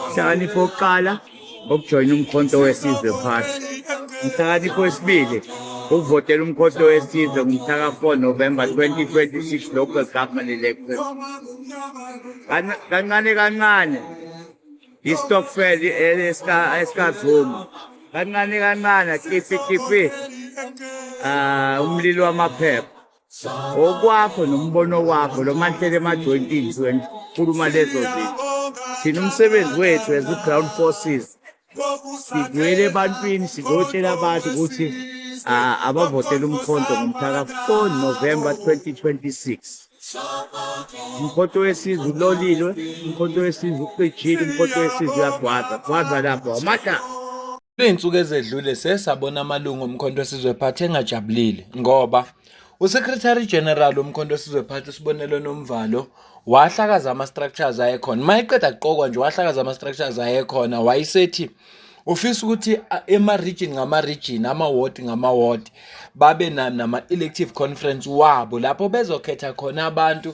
Inhlakanipho yokuqala ukujoyina umkhonto wesizwe phasi inhlakanipho yesibili ukuvotela umkhonto wesizwe ngomhlaka 4 novemba 2026 local government election kancane kancane istokfel esikazuma kancane kancane kifi kifi um ah, umlilo wamaphepha okwakho nombono wakho lo manhlele emajoyintini zweni khuluma lezo zinto thina umsebenzi wethu as u-ground forces sivuyele ebantwini sizotshela abantu ukuthi abavotela umkhonto ngomhlaka 4 november 2026 umkhonto wesizwe ulolilwe umkhonto wesizwe ucijile umkhonto wesizwe uyagwaza gwaza lapho amata Kwizinsuku ezedlule siye sabona amalungu oMkhonto weSizwe Party engajabulile ngoba uSecretary General woMkhonto weSizwe Party uSibonelo Nomvalo wahlakaza ama-structures ayekhona uma eqeda kuqokwa nje wahlakaza ama-structures ayekhona wayesethi ufisa ukuthi ema-region ngama-region ama-ward ngama-ward babe nama-elective conference wabo lapho bezokhetha khona abantu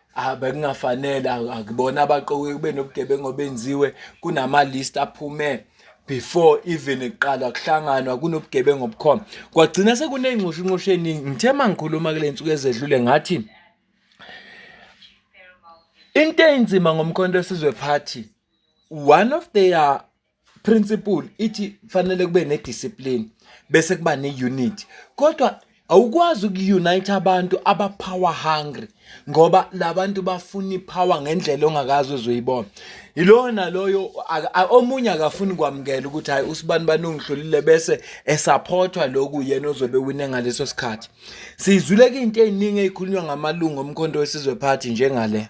Ah bekungafanele akubona abaqokiwe kube nobugebengu obenziwe kunama list aphume before even kuqalwa kuhlanganwa kunobugebengu obukhona kwagcina sekunengxushu inxushu eningi ngithe mangikhuluma kule nsuku ezedlule ngathi into enzima ngomkhonto esizwe party one of their principle ithi kufanele kube nediscipline bese kuba neunity kodwa awukwazi ukuunite abantu aba power hungry ngoba labantu bafuna ipower ngendlela ongakazi uzoyibona yilona loyo omunye akafuni kwamukela ukuthi hayi usibani bani ungihlulile bese esupportwa lokhu yena ozobe wine ngaleso sikhathi sizwile into eziningi ezikhulunywa ngamalungu omkhonto wesizwe party njengale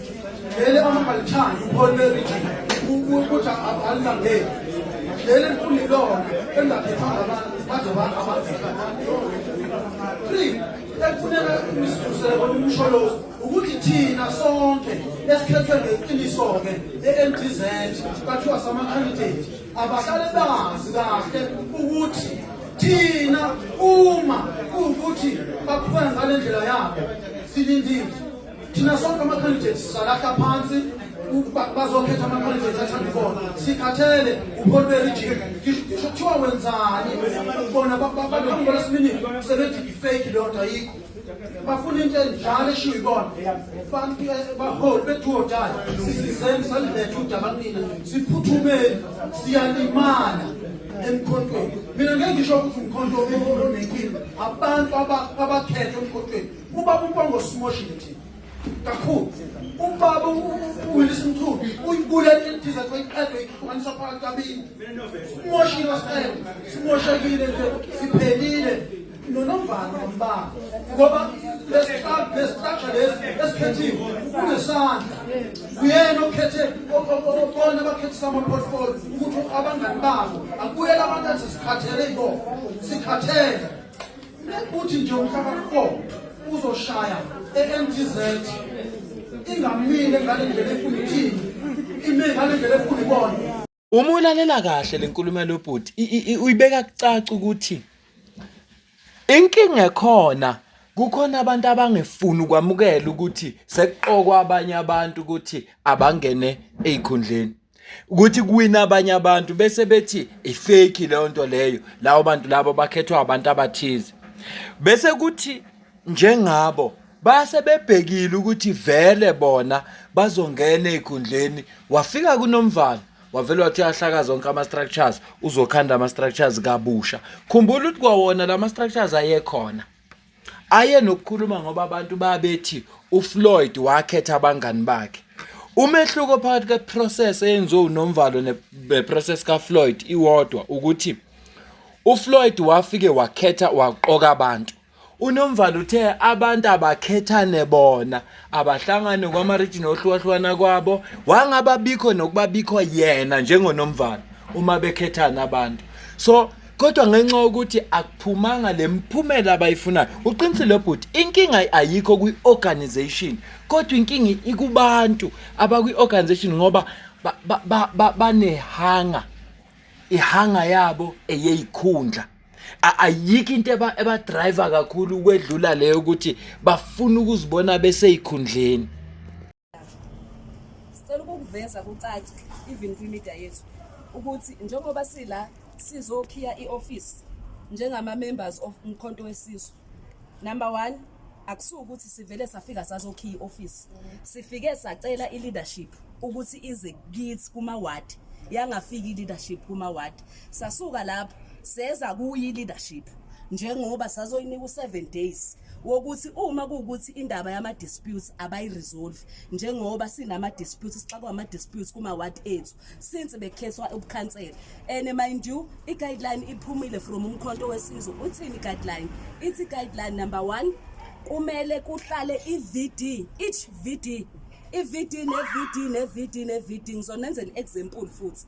leli amangalithandi uphole region ukuthi alilangeli leli mfundo ilona engaphethanga abantu baze abantu abazika three ekufuneka usisusele kona umsholozi ukuthi thina sonke esikhethwe ngeqiniso-ke e-mdz bathiwa sama-candidate abahlale bazi kahle ukuthi thina uma kuwukuthi baqhubeka ngale ndlela yabo silindile thina sonke ama-candidates sizalahla phansi ukuba bazokhetha ama-candidates athanda ibona sikhathele upholi berijini ngisho kuthiwa wenzani bona baqhamuka lesiminini sebethi i-fake leyo nto ayikho bafuna into enjalo eshiwo ibona abantu baholi bethuodayo sisizeni saliletha udaba kunina siphuthumeni siyalimala emkhontweni mina ngeke ngisho ukuthi umkhonto onenkinga abantu abakhethe emkhontweni Ubaba uBongo simoshile thina. Kakhulu. Ubaba uWillis Mthulu uyibulele idiza koyiqedwe ihlukanisa phakathi kabini. Simoshile wasicela. Simoshekile nje siphelile. Nonovalo ngombaba. Ngoba lesihlalo lesihlalo lesi esikhethiwe kunesandla. Uyena okhethe obona abakhethisa ama-portfolio ukuthi abangani babo akuyela abantu athi sikhathele ibona. Sikhathele. Uthi nje umhlaba kho uzoshaya eMTZ ingamile ngale ndlela efuna ithini ime ngale ndlela efuna ibona uma ulalela kahle lenkulumo yalobhuti uyibeka kucaca ukuthi inkinga ekhona kukhona abantu abangefuni ukwamukela ukuthi sekuqokwa abanye abantu ukuthi abangene ezikhundleni ukuthi kuwina abanye abantu bese bethi ifake leyo nto leyo lawo bantu labo bakhethwa abantu abathize bese kuthi njengabo base bebhekile ukuthi vele bona bazongena ezikhundleni wafika kunomvalo wavele wathi uyahlaka zonke ama-structures uzokhanda ama-structures kabusha khumbula ukuthi kwawona la ma-structures ayekhona aye nokukhuluma ngoba abantu babethi uFloyd wakhetha abangani bakhe umehluko phakathi kweprocess eyenziwe uNomvalo neprocess kaFloyd iwodwa ukuthi uFloyd wafike wakhetha waqoka abantu uNomvalo uthe abantu abakhethane bona abahlangane kwamarijini ohlukahlukana kwabo wangababikho nokubabikho yena njengoNomvalo uma bekhethana abantu so kodwa ngenxa yokuthi akuphumanga le mphumela abayifunayo uqinisile bhuti inkinga ayikho kwi-organization kodwa inkinga ikubantu abakwi-organization ngoba banehanga ihanga yabo eyeyikhundla ayikho into ebadriver kakhulu ukwedlula leyo ukuthi bafuna ukuzibona beseyikhundleni Sicela ukukuveza kucace even kwi-media yethu ukuthi njengoba sila sizokhiya i-office njengama-members of Umkhonto Wesizwe. Number one, akusuke ukuthi sivele safika sazokhiya i-office. Sifike sacela i-leadership ukuthi ize kithi kuma-ward, yangafika i-leadership kuma-ward. sasuka lapho seza kuyi leadership njengoba sazoyinika u7 days wokuthi uma kuwukuthi indaba yama disputes abayi resolve njengoba sinama disputes sixakwa ama disputes kuma ward ethu since bekhethwa ubukhansela and mind you i guideline iphumile from umkhonto wesizwe uthini guideline ithi guideline number 1 kumele kuhlale i VD each VD i-VD ne-VD ne-VD ne-VD ngizonenzela i-example futhi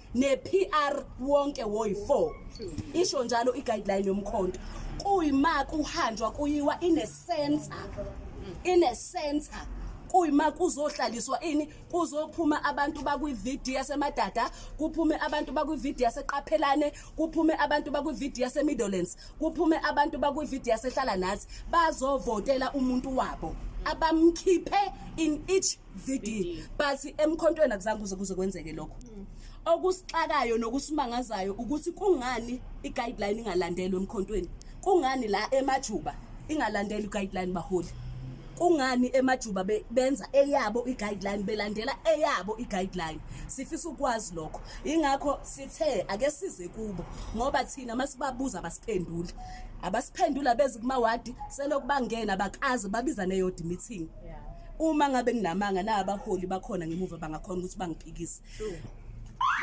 ne-PR wonke woyi-4 isho njalo i-guideline yomkhonto kuyima kuhanjwa kuyiwa in a center in a center kuyima kuzohlaliswa ini kuzophuma abantu bakwividiyo yasemadada kuphume abantu bakwividiyo yaseqaphelane kuphume abantu bakwividiyo yasemiddlands kuphume abantu bakwividiyo yasehlala nathi bazovotela umuntu wabo abamkhiphe in each VD but emkhontweni akuzange kuze kuze kwenzeke lokho mm. okusixakayo nokusimangazayo ukuthi kungani i-guideline ingalandelwe emkhontweni kungani la emajuba ingalandeli i-guideline baholi kungani emajuba benza eyabo i-guideline belandela eyabo i-guideline sifisa ukwazi lokho ingakho sithe ake size kubo ngoba thina masibabuza abasiphenduli abasiphendula bezi kumawadi selokubangena bakaze babiza neyodi meeting uma ngabe nginamanga na abaholi bakhona ngemuva bangakhona ukuthi bangiphikise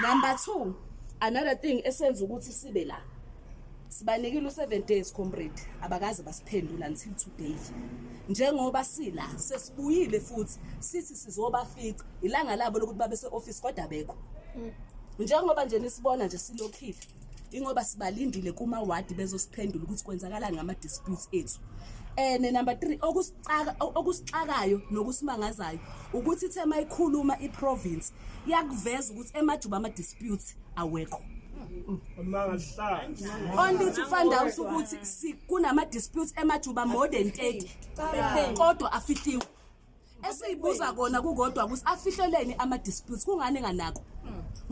number 2 another thing esenza ukuthi sibe la sibanikile u7 days comrade abakaze basiphendula until today njengoba sila sesibuyile futhi sithi sizoba fica ilanga labo lokuthi babe seoffice kodwa bekho mm. njengoba nje nisibona nje silokhile ingoba sibalindile kuma ward bezosiphendula ukuthi kwenzakala ngama disputes ethu and eh, number 3 okusixaka okusixakayo nokusimangazayo ukuthi ithe mayikhuluma iprovince yakuveza ukuthi emajuba ama disputes awekho only to find out ukuthi kunama disputes emajuba more than 30 kodwa afihliwe esiyibuza kona kukodwa ukuthi afihleleni ama disputes kungani enganako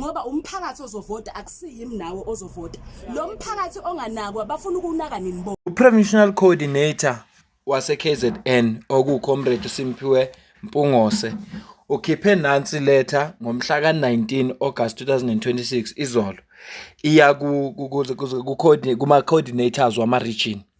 ngoba umphakathi ozovota akusiyimi nawe ozovota lo mphakathi onganakwa bafuna ukunaka nini bo uprovincial coordinator waseKZN okuwuComrade Simphiwe Mpungose ukhiphe nansi letter ngomhla ka-19 August 2026 izolo iya kuma-coordinators wama-region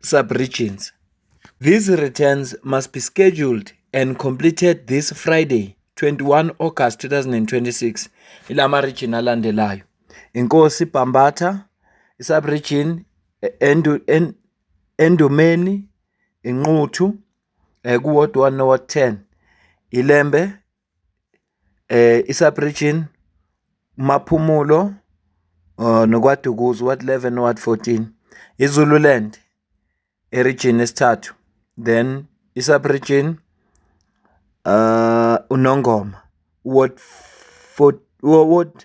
sub-regions. These returns must be scheduled and completed this Friday 21 August 2026 ilama region alandelayo inkosi Bhambatha isub region endu, en, endumeni inquthu eh, kuward 1 noward 10 ilembe I-sub-region, uMaphumulo noKwaDukuza, u-ward eleven no-ward fourteen. I-Zululand erijini yesithathu, then i-sub-region uNongoma, u-ward u-ward.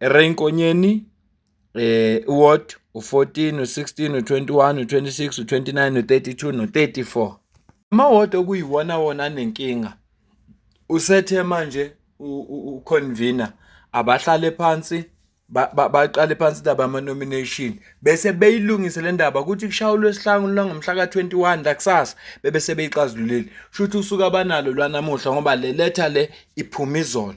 Ray Nkonyeni u-ward u-fourteen, u-sixteen, u-twenty-one, u-twenty-six, u-twenty-nine, u-thirty-two no-thirty-four. Ama-ward okuyiwona wona anenkinga usethe manje ukhonvina abahlale phansi baqale phansi indaba yama-nomination bese beyilungise le ndaba kuthi kushaya uLwesihlanu lwangomhla ka-twenty one lakusasa bebe sebeyixazululile. Kushuthi usuku abanalo lwanamuhla ngoba le letha le iphume izolo.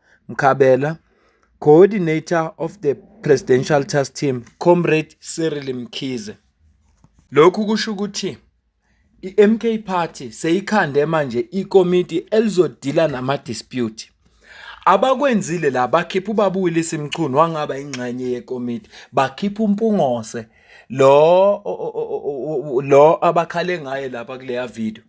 Mkhabela, Coordinator of the Presidential Task Team, Comrade Cyril Mkhize. Lokhu kusho ukuthi i-MK Party seyikhande manje ikomiti elizodila nama-dispute. Abakwenzile la bakhipha ubaba uWillis Mchunu wangaba ingxenye yekomiti, bakhipha uMpungose lo lo abakhale ngaye lapha kuleya video.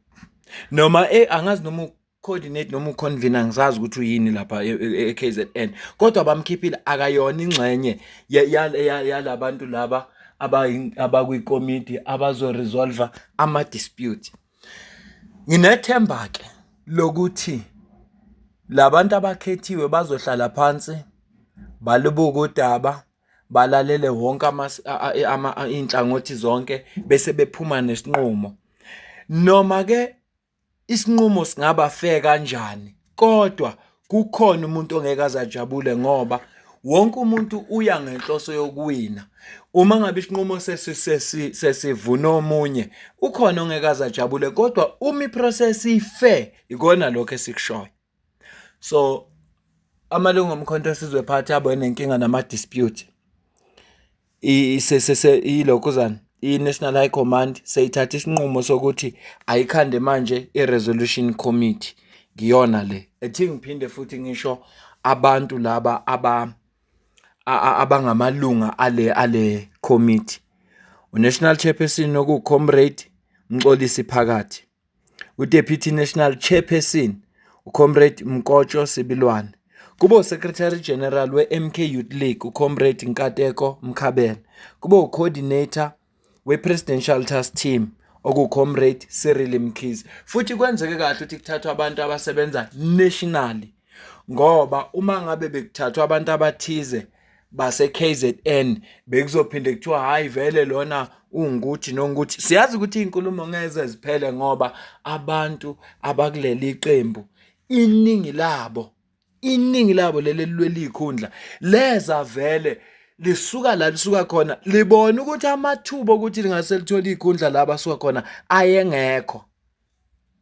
Noma eh angazi noma coordinate noma uconvener angisazi ukuthi uyini lapha eKZN e, e, kodwa bamkhiphile akayona ingxenye yalabantu laba abakwikomiti abazo resolve ama dispute nginethemba ke lokuthi labantu abakhethiwe bazohlala phansi balibuka udaba balalele wonke ama inhlangothi zonke bese bephuma nesinqumo noma ke Isinqumo singaba fair kanjani kodwa kukhona umuntu ongeke aze ajabule ngoba wonke umuntu uya ngenhloso yokuwina. Uma ngabe isinqumo sesivuna omunye ukhona ongeke aze ajabule kodwa uma i-process i-fair, ikona lokho esikushoyo. So amalungu omkhonto esizwe phathi abo enenkinga nama dispute isesese ilokhuzana i-National High Command seyithatha isinqumo sokuthi ayikhande manje i-resolution committee ngiyona le ethi ngiphinde futhi ngisho abantu laba aba abangamalunga ale ale committee uNational Chairperson okuwuComrade Mxolisi Phakathi uDeputy National Chairperson uComrade Mkotsho Sibilwane, kube uSecretary General we-MK Youth League uComrade Nkateko Mkhabela, kube uCoordinator we-Presidential Task Team okuComrade Cyril Mkhize. Futhi kwenzeke kahle ukuthi kuthathwa abantu abasebenza nationally ngoba uma ngabe bekuthathwa abantu abathize base-KZN bekuzophinde kuthiwa hhayi vele lona ungukuthi nongukuthi siyazi ukuthi iy'nkulumo ngeze ziphele ngoba abantu abakuleli qembu iningi labo iningi labo leli lwelikhundla leza vele lisuka la lisuka khona libona ukuthi amathuba okuthi lingase lithole ikhundla la basuka khona ayengekho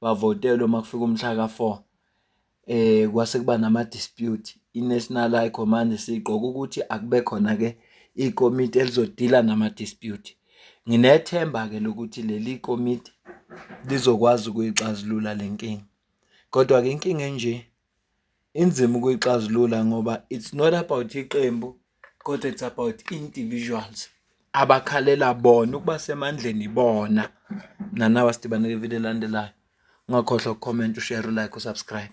bavotelwe uma kufika umhla ka-four eh kwase kuba nama-dispute i-National High Command sigqoka ukuthi akube khona-ke ikomiti elizodila nama-dispute. Nginethemba-ke lokuthi leli komiti lizokwazi ukuyixazulula le nkinga. Kodwa-ke inkinga enje Inzima ukuyixazulula ngoba it's not about iqembu kodwa it's about individuals abakhalela bona ukuba semandleni ibona. Nanawa sidibane kwividiyo elandelayo. Ungakhohlwa ukukhomenta, ushere, ulike, usubscribe.